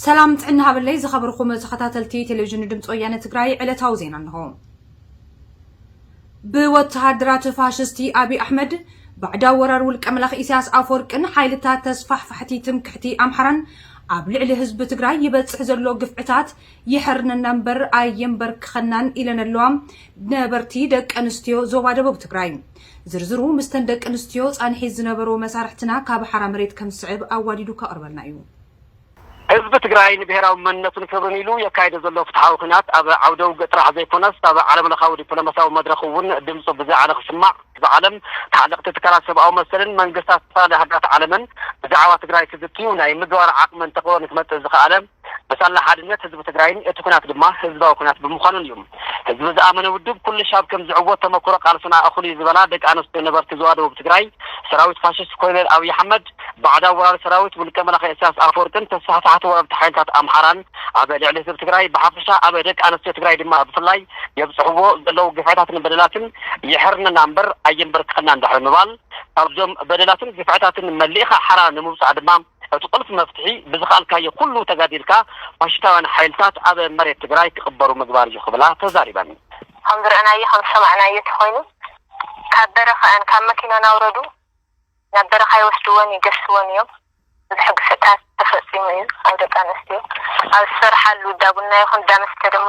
ሰላም ጥዕና ሃበለይ ዝኸበርኩም ተኸታተልቲ ቴሌቪዥን ድምፂ ወያነ ትግራይ ዕለታዊ ዜና እንሆ። ብወተሃደራት ፋሽስቲ ኣቢይ ኣሕመድ ባዕዳዊ ወራር ውልቀ መላኽ ኢሳያስ ኣፈወርቅን ሓይልታት ተስፋሕፋሕቲ ትምክሕቲ ኣምሓራን ኣብ ልዕሊ ህዝቢ ትግራይ ይበፅሕ ዘሎ ግፍዕታት ይሐርነና እምበር ኣየምበርክኸናን ኢለን ኣለዋ ነበርቲ ደቂ ኣንስትዮ ዞባ ደቡብ ትግራይ ዝርዝሩ ምስተን ደቂ ኣንስትዮ ፃንሒት ዝነበሩ መሳርሕትና ካብ ሓራ መሬት ከም ዝስዕብ ኣዋዲዱ ከቕርበልና እዩ። ህዝቢ ትግራይ ንብሄራዊ መንነቱን ክብርን ኢሉ የካይዶ ዘሎ ፍትሓዊ ኹናት ኣብ ዓውደ ውግእ ጥራሕ ዘይኮነስ ኣብ ዓለም ለኻዊ ዲፕሎማሲያዊ መድረኽ እውን ድምፁ ብዝያዓለ ክስማዕ ብዓለም ተሓለቕቲ ትካላት ሰብኣዊ መሰልን መንግስታት ዝተፈላለዩ ሃገራት ዓለምን ብዛዕባ ትግራይ ክዝትዩ ናይ ምግባር ዓቕሚ እንተኾ ንክመፅእ ዝኸኣለ ብሳላ ሓድነት ህዝቢ ትግራይን እቲ ኩናት ድማ ህዝባዊ ኩናት ብምዃኑን እዩ። ህዝቢ ዝኣመነ ውድብ ኩልሽ ኣብ ከም ዝዕወት ተመኩሮ ቃልስና እኹል እዩ ዝበላ ደቂ ኣንስትዮ ነበርቲ ዞባ ደቡብ ትግራይ ሰራዊት ፋሽስት ኮሎኔል ኣብይ ኣሕመድ ባዕዳዊ ወራሪ ሰራዊት ውልቀ መላኺ እሰያስ ኣፈወርቅን ተሳሕታሕቲ ወረርቲ ሓይልታት ኣምሓራን ኣብ ልዕሊ ህዝቢ ትግራይ ብሓፈሻ ኣብ ደቂ ኣንስትዮ ትግራይ ድማ ብፍላይ የብፅሕዎ ዘለው ግፍዕታትን በደላትን የሕርነና እምበር ኣየንበርክኸናን ድሕሪ ምባል ካብዞም በደላትን ግፍዕታትን መሊእኻ ሓራ ንምውፃእ ድማ እቲ ቁልፊ መፍትሒ ብዝኸኣልካዮ ኩሉ ተጋዲልካ ፋሽሽታውያን ሓይልታት ኣብ መሬት ትግራይ ክቕበሩ ምግባር እዩ ክብላ ተዛሪበን። ከም ዝረእናዮ ከም ዝሰማዕናዮ ተኾይኑ ካብ በረኻ እየን ካብ መኪና ናውረዱ ናብ በረኻ ይወስድወን ይገስጽወን እዮም ብዙሕ ግፍዕታት ተፈጺሙ እዩ ኣብ ደቂ ኣንስትዮ ኣብ ዝሰርሓሉ እዳቡና ይኹን እዳመስተ ድሞ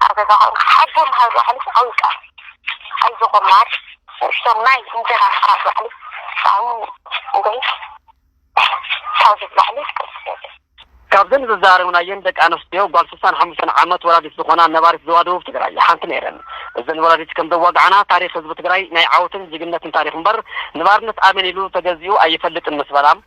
ኣብ ገዛ ኮንካ ሓቦ ምሃብ ባዕሉ ዓብይ ቃል እዩ። ኣይዞኹም ማር ንእሽቶ ማይ እንጀራ ምቅራብ ባዕሉ ጥዕሙ እንድዒ ካብ ዝብላዕ ሊስ ቅልስ የለን። ካብዘን ዘዘራረብናየን ደቂ ኣንስትዮ ጓል ስሳን ሓሙሽተን ዓመት ወላዲት ዝኾና ነባሪት ዞባ ደቡብ ትግራይ ሓንቲ ነይረን። እዘን ወላዲት ከምዘዋግዓና ታሪኽ ህዝቢ ትግራይ ናይ ዓወትን ጅግንነትን ታሪኽ እምበር ንባርነት ኣሜን ኢሉ ተገዚኡ ኣይፈልጥን ምስ በላ፣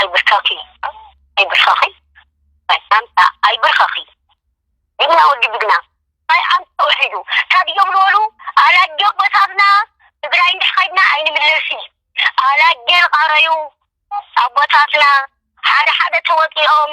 ኣይብርከኺ ኣይብርከኺ ናይ ኣንታ ኣይብርከኺ ጅግና ወዲ ጅግና ናይ ኣንታ ተውሒዱ ካብ ኢዮም ልበሉ ኣላጆ ኣቦታትና ትግራይ እንድሕ ከይድና ኣይንምለሲ ኣላጀ ልቃረዩ ኣቦታትና ሓደ ሓደ ተወፂኦም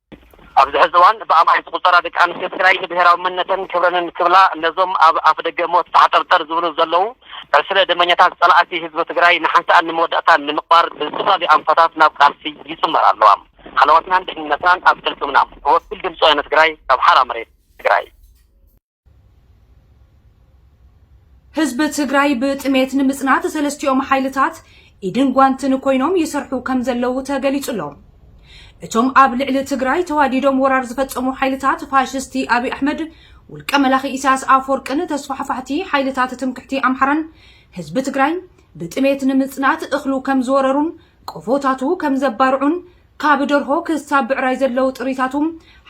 ኣብዚ ሕዚ እዋን ብኣማኢት ዝቑፀራ ደቂ ኣንስትዮ ትግራይ ንብሄራዊ መንነተን ክብረንን ክብላ ነዞም ኣብ ኣፍደገ ሞት ተሓጠርጠር ዝብሉ ዘለዉ ዕስለ ደመኛታት ፀላእቲ ህዝቢ ትግራይ ንሓንሳእን ንመወዳእታን ንምቕባር ብዝተፈላለዩ ኣንፈታት ናብ ቃልሲ ይፅመራ ኣለዋ። ሃለዋትናን ድሕንነትናን ኣብ ቅልፅምና! ወኪል ድምፂ ወያነ ትግራይ ካብ ሓራ መሬት ትግራይ። ህዝቢ ትግራይ ብጥሜት ንምፅናት ሰለስቲኦም ሓይልታት ኢድን ጓንትን ኮይኖም ይሰርሑ ከም ዘለዉ ተገሊጹ ኣሎ። እቶም ኣብ ልዕሊ ትግራይ ተዋዲዶም ወራር ዝፈጸሙ ሓይልታት ፋሽስቲ ኣብይ ኣሕመድ ውልቀ መላኺ ኢሳያስ ኣፈወርቅን ተስፋሕፋሕቲ ሓይልታት ትምክሕቲ ኣምሓራን ህዝቢ ትግራይ ብጥሜት ንምፅናት እኽሉ ከም ዝወረሩን ቆፎታቱ ከም ዘባርዑን ካብ ደርሆ ክሳብ ብዕራይ ዘለዉ ጥሪታቱ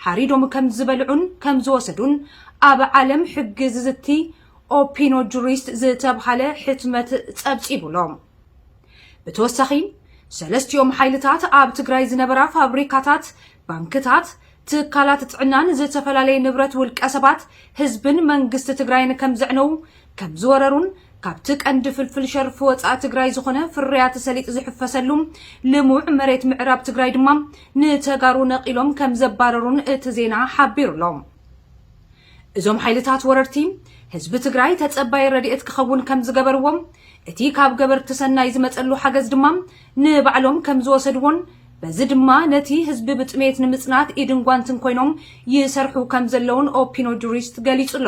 ሓሪዶም ከም ዝበልዑን ከም ዝወሰዱን ኣብ ዓለም ሕጊ ዝዝቲ ኦፒኖ ጁሪስት ዝተብሃለ ሕትመት ጸብጺቡ ኣሎ። ብተወሳኺ ሰለስቲኦም ሓይልታት ኣብ ትግራይ ዝነበራ ፋብሪካታት፣ ባንክታት፣ ትካላት ጥዕናን ዝተፈላለየ ንብረት ውልቀ ሰባት፣ ህዝብን መንግስቲ ትግራይን ከም ዘዕነዉ ከም ዝወረሩን ካብቲ ቀንዲ ፍልፍል ሸርፊ ወፃኢ ትግራይ ዝኾነ ፍርያት ሰሊጥ ዝሕፈሰሉ ልሙዕ መሬት ምዕራብ ትግራይ ድማ ንተጋሩ ነቒሎም ከም ዘባረሩን እቲ ዜና ሓቢሩ ኣሎ። እዞም ሓይልታት ወረርቲ ህዝቢ ትግራይ ተፀባይ ረድኤት ክኸውን ከም ዝገበርዎ እቲ ካብ ገበርቲ ሰናይ ዝመፀሉ ሓገዝ ድማ ንባዕሎም ከም ዝወሰድዎን በዚ ድማ ነቲ ህዝቢ ብጥሜት ንምፅናት ኢድን ጓንትን ኮይኖም ይሰርሑ ከም ዘለውን ኦፒኖ ጁሪስት ገሊፁ ኣሎ።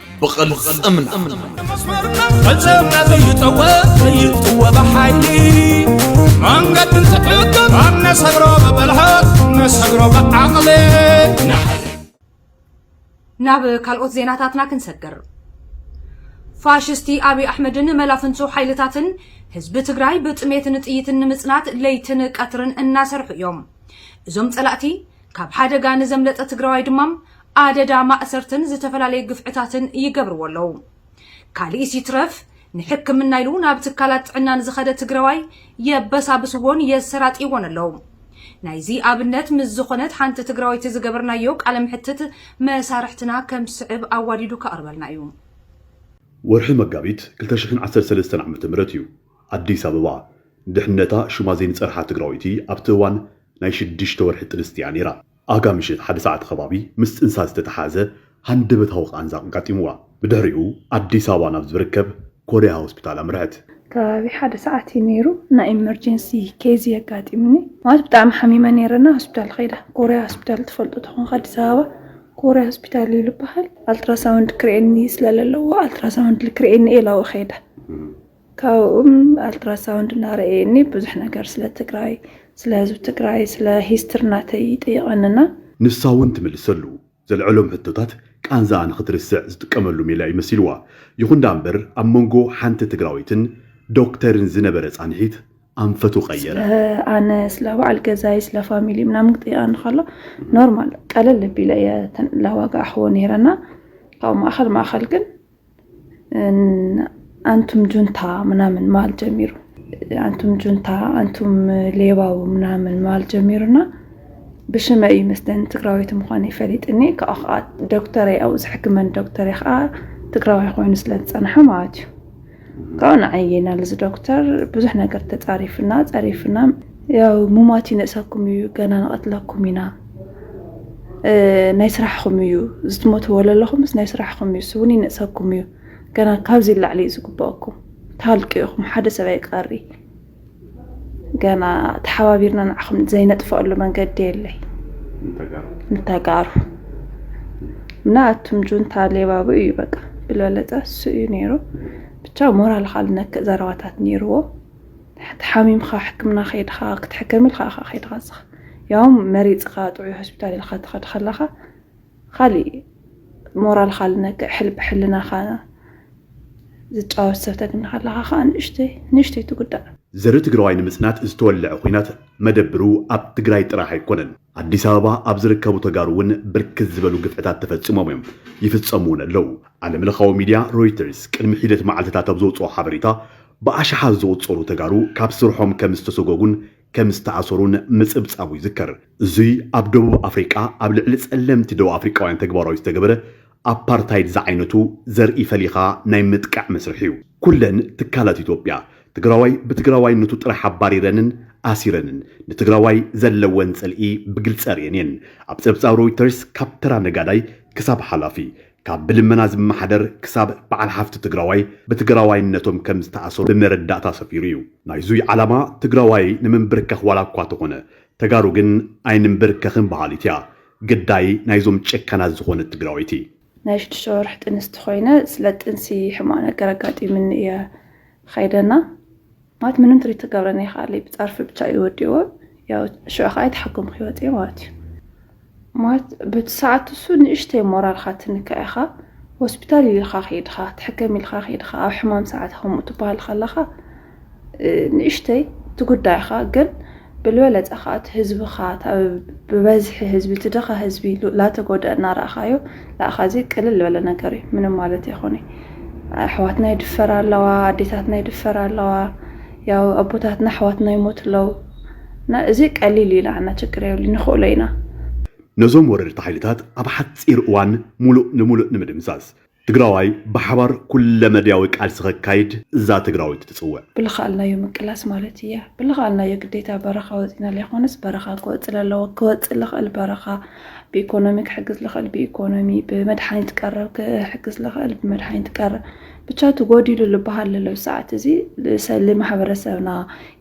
ብቕልፅምና ፈፀምና ዘይጠወ ዘይጥወ ብሓይሊ መንገዲ ዝሕግብ ኣብ ነሰግሮ ብብልሃት ነሰግሮ ብዓቕሊ ናብ ካልኦት ዜናታትና ክንሰግር ፋሽስቲ ኣብይ ኣሕመድን መላፍንጹ ሓይልታትን ህዝቢ ትግራይ ብጥሜትን ጥይትን ንምጽናት ለይትን ቀትርን እናሰርሑ እዮም እዞም ጸላእቲ ካብ ሓደጋ ንዘምለጠ ትግራዋይ ድማ ኣደዳ ማእሰርትን ዝተፈላለየ ግፍዕታትን ይገብርዎ ኣለዉ። ካሊእስ ይትረፍ ንሕክምና ኢሉ ናብ ትካላት ጥዕና ንዝኸደ ትግረዋይ የበሳብስዎን የሰራጥይዎን ኣለዉ። ናይዚ ኣብነት ምስ ዝኾነት ሓንቲ ትግራወይቲ ዝገበርናዮ ቃለ መሕትት መሳርሕትና ከም ዝስዕብ ኣዋዲዱ ከቕርበልና እዩ። ወርሒ መጋቢት ክልተ ሽሕን ዓሰርተ ሰለስተን ዓመተ ምህረት እዩ። ኣዲስ ኣበባ፣ ንድሕንነታ ሹማ ዘይንፀርሓ ትግራወይቲ ኣብቲ እዋን ናይ ሽዱሽተ ወርሒ ጥንስቲ እያ ነይራ። ኣጋ ምሽት ሓደ ሰዓት ከባቢ ምስ ፅንሳ ዝተተሓሓዘ ሃንደበታዊ ቃንዛ ኣጋጢሙዋ ብድሕሪኡ ኣዲስ ኣበባ ናብ ዝብርከብ ኮርያ ሆስፒታል ኣምርሐት። ከባቢ ሓደ ሰዓት እዩ ነይሩ ናይ ኢመርጀንሲ ኬዝ እዩ ኣጋጢሙኒ ማለት ብጣዕሚ ሓሚመ ነይረ እና ሆስፒታል ኸይደ ኮርያ ሆስፒታል ትፈልጡ ተኾንካ ኣዲስ ኣበባ ኮርያ ሆስፒታል እዩ ልበሃል ኣልትራሳውንድ ክርኤኒ ስለለለዎ ኣልትራሳውንድ ልክርኤኒ እየ ኢላዎ ኸይደ ካብኡም ኣልትራሳውንድ እናረእየኒ ብዙሕ ነገር ስለ ትግራይ ስለ ህዝቢ ትግራይ ስለ ሂስትሪ ናተይ ይጥይቐኒ እና። ንሳ እውን ትምልሰሉ ዘልዐሎም ሕቶታት ቃንዛኣ ንኽትርስዕ ዝጥቀመሉ ሜላ እዩ መሲልዋ። ይኹን ደኣ እምበር ኣብ መንጎ ሓንቲ ትግራወይትን ዶክተርን ዝነበረ ፃንሒት ኣንፈቱ ቀየረ። ስለ ኣነ ስለ በዓል ገዛይ ስለ ፋሚሊይ ምናምን ክጥይቐኒ ከሎ ኖርማል ቀለል ኣቢለ እየ ተላዋግኣሕዎ ነይረ እና ካብኡ ማእኸል ማእኸል ግን ኣንቱም ጁንታ ምናምን ማል ጀሚሩ ኣንቱም ጁንታ ኣንቱም ሌባው ምናምን ማል ጀሚሩና ብሽመ እዩ መስለን ትግራዊት ምኳነ ይፈሊጥኒ ካብኡ ከዓ ዶክተር ኣብኡ ዝሕክመን ዶክተር ከዓ ትግራዋይ ኮይኑ ስለ ዝፀንሐ ማለት እዩ ካብኡ ንዓይ ናልዚ ዶክተር ብዙሕ ነገር ተፃሪፍና ፀሪፍና ያው ሙማት ይነእሰኩም እዩ ገና ንቐትለኩም ኢና ናይ ስራሕኹም እዩ ዝትሞትዎ ዘለኹምስ ናይ ስራሕኹም እዩ ስውን ይነእሰኩም እዩ ገና ካብዚ ላዕሊ እዩ ዝግበአኩም ታልቂ ኢኹም ሓደ ሰብ ኣይቀሪ ገና ተሓባቢርና ንዓኹም ዘይነጥፈኣሉ መንገዲ የለይ ንተጋሩ እና ኣቱም ጁንታ ሌባቡ እዩ በቃ ብልበለፀ እሱ እዩ ነይሩ ብቻ ሞራል ካልነክእ ዘረባታት ነይርዎ ተሓሚምካ ሕክምና ከይድካ ክትሕከም ኢልካ ኢኻ ከይድካ ዝኻ ያውም መሪፅካ ጥዑይ ሆስፒታል ኢልካ ትኸድ ከለኻ ካሊእ ሞራልካ ልነክዕ ሕልቢ ሕልናኻ ዝጫወት ሰብ ተግኒ ከለኻ ከዓ ንእሽተይ ንእሽተይ ትጉዳእ። ዘርኢ ትግራዋይ ንምፅናት ዝተወለዐ ኹናት መደብሩ ኣብ ትግራይ ጥራሕ ኣይኮነን። ኣዲስ ኣበባ ኣብ ዝርከቡ ተጋሩ እውን ብርክት ዝበሉ ግፍዕታት ተፈፂሞም እዮም፣ ይፍፀሙ እውን ኣለው። ዓለም ለኻዊ ሚድያ ሮይተርስ ቅድሚ ሒደት መዓልቲታት ኣብ ዘውፅኦ ሓበሬታ ብኣሽሓት ዝቑፀሩ ተጋሩ ካብ ስርሖም ከም ዝተሰጎጉን ከም ዝተኣሰሩን ምፅብፃቡ ይዝከር። እዙይ ኣብ ደቡብ ኣፍሪቃ ኣብ ልዕሊ ፀለምቲ ደቡብ ኣፍሪቃውያን ተግባራዊ ዝተገበረ ኣፓርታይድ ዝዓይነቱ ዘርኢ ፈሊኻ ናይ ምጥቃዕ መስርሕ እዩ። ኩለን ትካላት ኢትዮጵያ ትግራዋይ ብትግራዋይነቱ ጥራሕ ኣባሪረንን ኣሲረንን ንትግራዋይ ዘለወን ፅልኢ ብግልፂ ኣርእየን እየን። ኣብ ፀብፃብ ሮይተርስ ካብ ተራ ነጋዳይ ክሳብ ሓላፊ፣ ካብ ብልመና ዝመሓደር ክሳብ በዓል ሃፍቲ ትግራዋይ ብትግራዋይነቶም ከም ዝተኣሰሩ ብመረዳእታ ሰፊሩ እዩ። ናይዙይ ዓላማ ትግራዋይ ንምንብርካኽ ዋላ እኳ ተኾነ ተጋሩ ግን ኣይንምብርከኽን በሃሊት እያ ግዳይ ናይዞም ጨካናት ዝኾነት ትግራወይቲ። ናይ ሽዱሽተ ወርሒ ጥንስቲ ኮይነ ስለ ጥንሲ ሕማቅ ነገር ኣጋጢምኒ እየ ኸይደና ማለት ምንም ትሪት ትገብረኒ ይኸኣለይ ብፃርፊ ብቻ እዩ ወዲእዎ ያው ሽዑ ከዓ የተሓከምኩ ህይወት እየ ማለት እዩ ማለት በቲ ሰዓት እሱ ንእሽተይ ሞራልካ ትንክዕ ኢኻ ሆስፒታል ኢልካ ከይድኻ ትሕከም ኢልካ ከይድኻ ኣብ ሕማም ሰዓት ከምኡ ትበሃል ከለኻ ንእሽተይ እቲ ጉዳይኻ ግን ብልበለፀ ከዓ እቲ ህዝብኻ ብበዝሒ ህዝቢ እቲ ድኻ ህዝቢ ላተጎድአ እናረእኻዮ ንኣኻ እዚ ቅልል ዝበለ ነገር እዩ ምንም ማለት ይኾነ ኣሕዋትና ይድፈራ ኣለዋ ኣዴታትና ይድፈራ ኣለዋ ያው ኣቦታትና ኣሕዋትና ይሞት ኣለዉ እና እዚ ቀሊል እዩ ንዓና ችግር የብሉ ንኽእሎ ኢና ነዞም ወረርቲ ሓይልታት ኣብ ሓፂር እዋን ሙሉእ ንሙሉእ ንምድምሳስ ትግራዋይ ብሓባር ኩለመድያዊ ቃልሲ ከካይድ እዛ ትግራወይቲ ትፅውዕ። ብልኻኣልናዮ ምቅላስ ማለት እያ። ብልኻኣልናዮ ግዴታ በረኻ ወፂእና ለይኾነስ በረኻ ክወፅእ ለለዎ ክወፅእ ልኽእል በረኻ ብኢኮኖሚ ክሕግዝ ልኽእል ብኢኮኖሚ ብመድሓኒት ቀረብ ክሕግዝ ልኽእል ብመድሓኒት ቀረብ ብቻ ትጎዲሉ ልበሃል ለለው ሰዓት እዚ ልማሕበረሰብና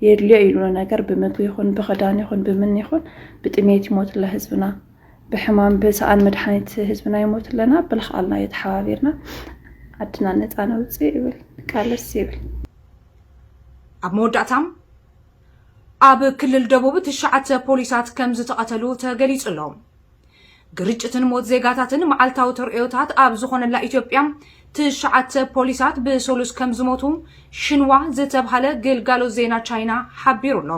የድልዮ ኢሉ ነገር ብምግቢ ይኹን ብኽዳን ይኹን ብምን ይኹን ብጥሜት ይሞትለ ህዝብና ብሕማም ብሰኣን መድሓኒት ህዝብና ይሞት ኣለና ብልክዓልና እዩ ተሓባቢርና ዓድና ነፃ ነውፅእ ይብል ቃለስ ይብል ኣብ መወዳእታም ኣብ ክልል ደቡብ ትሽዓተ ፖሊሳት ከም ዝተቐተሉ ተገሊጹ ኣሎ። ግርጭትን ሞት ዜጋታትን መዓልታዊ ተርእዮታት ኣብ ዝኾነላ ኢትዮጵያ ትሽዓተ ፖሊሳት ብሰሉስ ከም ዝሞቱ ሽንዋ ዝተብሃለ ግልጋሎት ዜና ቻይና ሓቢሩ ኣሎ።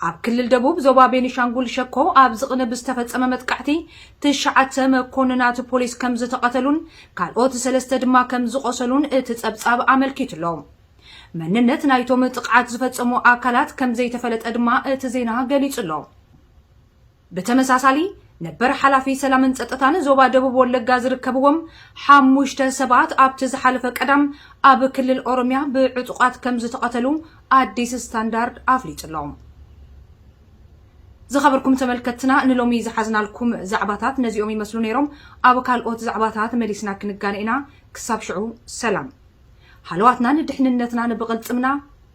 ኣብ ክልል ደቡብ ዞባ ቤኒሻንጉል ሸኮ ኣብዚ ቅነ ብዝተፈጸመ መጥቃዕቲ ትሽዓተ መኮንናት ፖሊስ ከም ዝተቐተሉን ካልኦት ሰለስተ ድማ ከም ዝቖሰሉን እቲ ጸብጻብ ኣመልኪቱ'ሎ። መንነት ናይቶም ጥቕዓት ዝፈጸሙ ኣካላት ከም ዘይተፈለጠ ድማ እቲ ዜና ገሊጹ'ሎ። ብተመሳሳሊ ነበር ሓላፊ ሰላምን ጸጥታን ዞባ ደቡብ ወለጋ ዝርከብዎም ሓሙሽተ ሰባት ኣብቲ ዝሓለፈ ቀዳም ኣብ ክልል ኦሮሚያ ብዕጡቓት ከም ዝተቐተሉ ኣዲስ ስታንዳርድ ኣፍሊጡ ኣሎ። ዝኸበርኩም ተመልከትና ንሎሚ ዝሓዝናልኩም ዛዕባታት ነዚኦም ይመስሉ ነይሮም። ኣብ ካልኦት ዛዕባታት መሊስና ክንጋነ ኢና። ክሳብ ሽዑ ሰላም። ሃለዋትናን ድሕንነትናን ብቕልጽምና